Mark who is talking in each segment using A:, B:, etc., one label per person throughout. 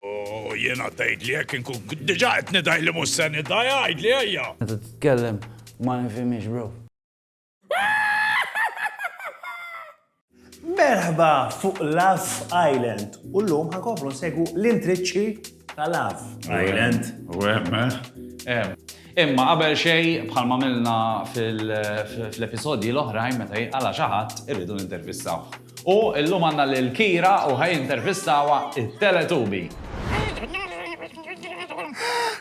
A: U jiena tgħidli jekk inkun diġà qed nidgħi li mhux se nidgħi għidli ejja! Meta titkellem ma nifhimhiex bro. Merħba fuq Love Island u llum ħankomplu nsegwu l-intriċċi ta' Love Island. U hemm, eh? Imma qabel xejn bħalma għamilna fl-episodji l-oħrajn meta jinqala' xi ħadd irridu nintervistawh. U illum għandna lil Kira u ħa jintervistawha t-Teletubi.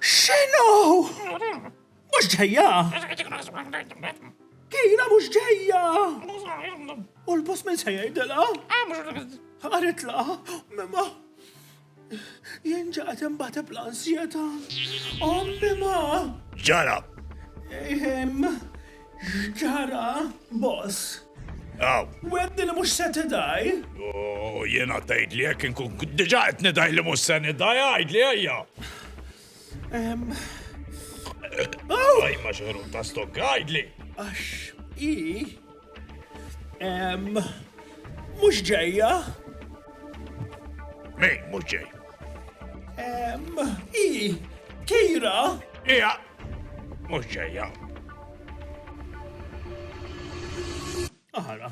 A: X'inhu? Mhux ġejja? Kira mhux ġejja! U l-boss min se jgħidilha? Ħaritla? Jien ġaqgħet inbateb l-ansjetà. Ommi ma! Ġara! Ehm, x'ġara, boss? Aw. Wedni li mhux se tidaj? Oh, jiena tgħid li jekk inkun diġà qed nidaj li mhux se nidaj, għidli ejja. Għaj, ma xħerut ta' stok, għajdli. Għax, i, mux ġeja. Min, mux ġej. I, kira. Ija, mux ġeja. Aħara.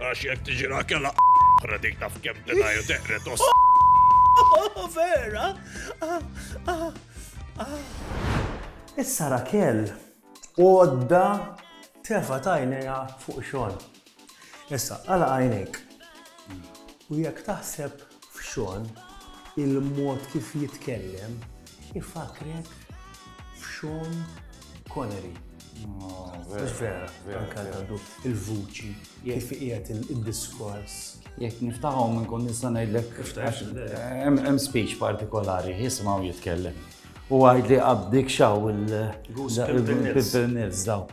A: Għax jek tiġira kella oħra dik taf kem tenaju teqret os. Oh, vera? Ah, ah, ah. Issa Rakel, għodda tefa tajnija fuq xogħol. Issa, għala għajnek. U jekk taħseb f'Shawn, il-mod kif jitkellem ifakkrek f'Shawn Connery. Mhux vera, anke għandu il-vuċi, kif qiegħed il-diskors. Jekk niftaħu minn kun nista' ngħidlek hemm speech partikolari, jisimgħu jitkellem. U għajd li qabdik xaw il-Pimpernils dawk.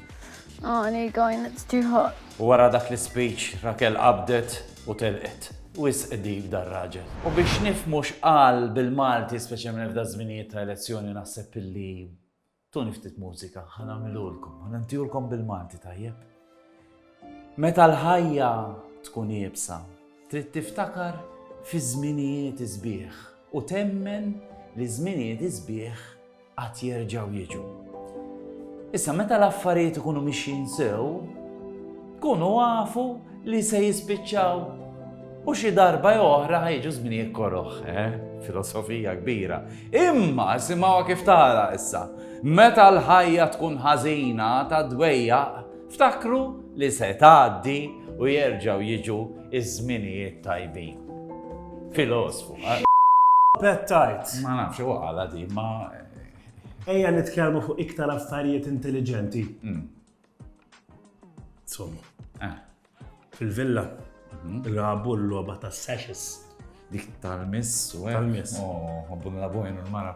A: Għani għajn tiħaq. U wara dak l-ispeech Rakel qabdet u telqet. Wisq deep dar-raġel. U biex nifhmu x'qal bil-Malti speċjalment f'da żminijiet ta' elezzjoni naħseb illi tuni ftit mużika ħa nagħmilulkom, ħa nintihulkom bil-Malti tajjeb. Meta l-ħajja tkun iebsa, trid tiftakar fiż-żminijiet isbieħ u temmen li ż-żminijiet isbieħ għad jerġgħu jiġu. Issa meta l-affarijiet ikunu mixjin sew, kunu għafu li se jispiċċaw u xi darba oħra ħajġu żminijiet koroħ, eh? filosofija kbira. Imma simgħu kif tara issa, meta l-ħajja tkun ħażina ta' dwejja Ftakru li se tgħaddi u jerġgħu jiġu iż-żminijiet tajbin. Filosfu. Pettajt. Ma nafx u għala di, ma. Ejja nitkellmu fuq iktar affarijiet intelligenti. Mm. Insomma. Eh. Fil-villa, mhm. il-rabu l-loba ta' sessions. Dik tal-miss, u tal-miss. Oh, għabbun la bojn il-mara.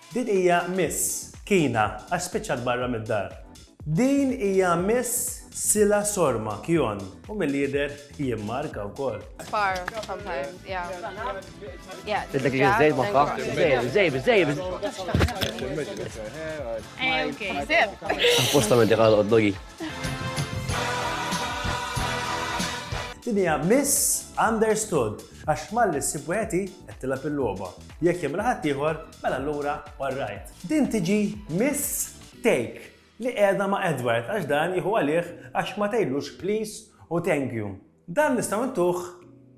A: Din hija Miss Kina għax spiċċat barra mid-dar. Din hija Miss Sila Sorma Kjon u milli jidher jien Marka wkoll. Far sometimes, yeah. Yeah. Tidlek li żejb magħha. Żejb, żejb, żejb. Eh, okay. Apposta minn dik għal-qoddogi. Din hija Miss Understood għax malli s-sibweti qed tilab il-logħba. Jekk jagħmilha ħaddieħor, mela allura all right. Din tiġi Miss Take li qiegħda ma' Edward għax dan jieħu għalih għax ma tgħidlux please u thank you. Dan nistgħu ntuh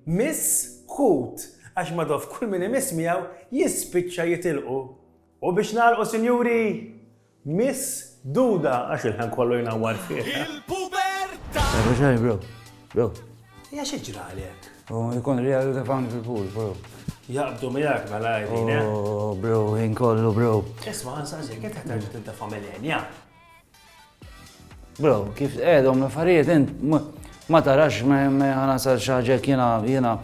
A: Miss Hoot għax madof kull min imiss miegħu jispiċċa jitilqu. U biex nagħlqu sinjuri, Miss Duda, għax il-ħin kollu jnawwar fiha. Il-pubertà! Ejja xejn, bro. Bro. Hija xi ġrali hekk? U jkun real ta' fan fil-pool, bro. Jaqbdu miegħek mela għajdin, eh? Oh, bro, ħin kollu, bro. Isma' għansa ġej, kif taħtarġu tinta' familjenja? Bro, kif tqegħedhom l-affarijiet int ma tarax ma ħanasal xi ħaġa jiena jiena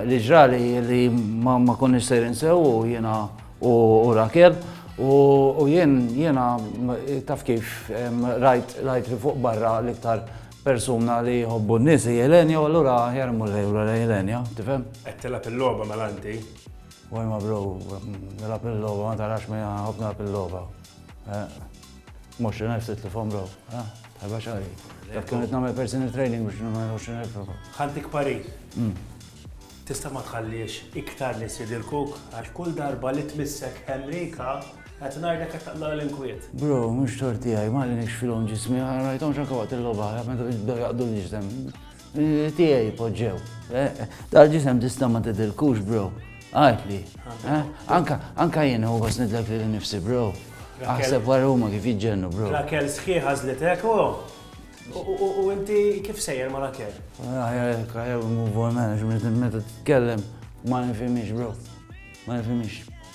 A: li ġrali li ma konniex sejrin sew jiena u Rakel u jien jiena taf kif rajt rajt li fuq barra l-iktar persuna li jħobbu n-nies hi Elenja u allura aħjar imur lejla lejn Elenja, tifhem? Qed tilgħab il-logħba mela inti. Wajma bro, nilgħab il-logħba ma tarax ma ħobb nilgħab il-logħba. Eh. 20,000 titlifhom bro, ah, tħabba xari. Dak kien qed nagħmel personal training biex nagħmel 20,000 bro. Ħantik parir. Tista' ma tħalliex iktar nies jidilkuk għax kull darba li tmissek Henrika qed ngħidlek qed taqla' l-inkwiet. Bro, mhux tort tiegħi, ma għallinix filhom ġismi, ma rajthomx anke waqt il-logħba, meta bdew jaqdu l-ġisem. Tiegħi poġġew. Eh, Dal-ġisem tista' ma tidilkux, bro. Għajtli. Eh, anka, anka jien u għas nidlek li nifsi, bro. Aħseb wara huma kif jiġġennu, bro. Rakel sħiħa zlitek, u. U inti kif sejjer ma Rakel? Rakel, kajew move on management, meta t-tkellem, ma nifimix, bro. Ma nifimix.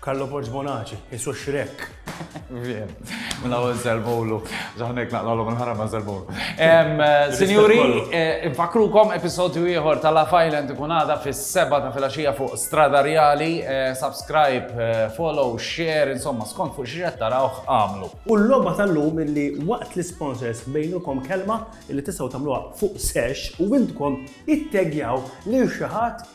A: Carlo Porz Bonaci, isu xrek. Vien. Mela u zelbowlu. Zaħnek naqlalu minn ħarama zelbowlu. Sinjuri, eh, infakrukom episodju ieħor ta' La Island ikun għada fis-seba ta' filaxija fuq stradarjali. Eh, subscribe, eh, follow, share, insomma, skont fuq xiex tarawh għamlu. U l-logħba tal-lum illi waqt l-sponsors bejnukom kelma illi tistgħu tagħmluha fuq sesh u intkom ittegjaw lil xi ħadd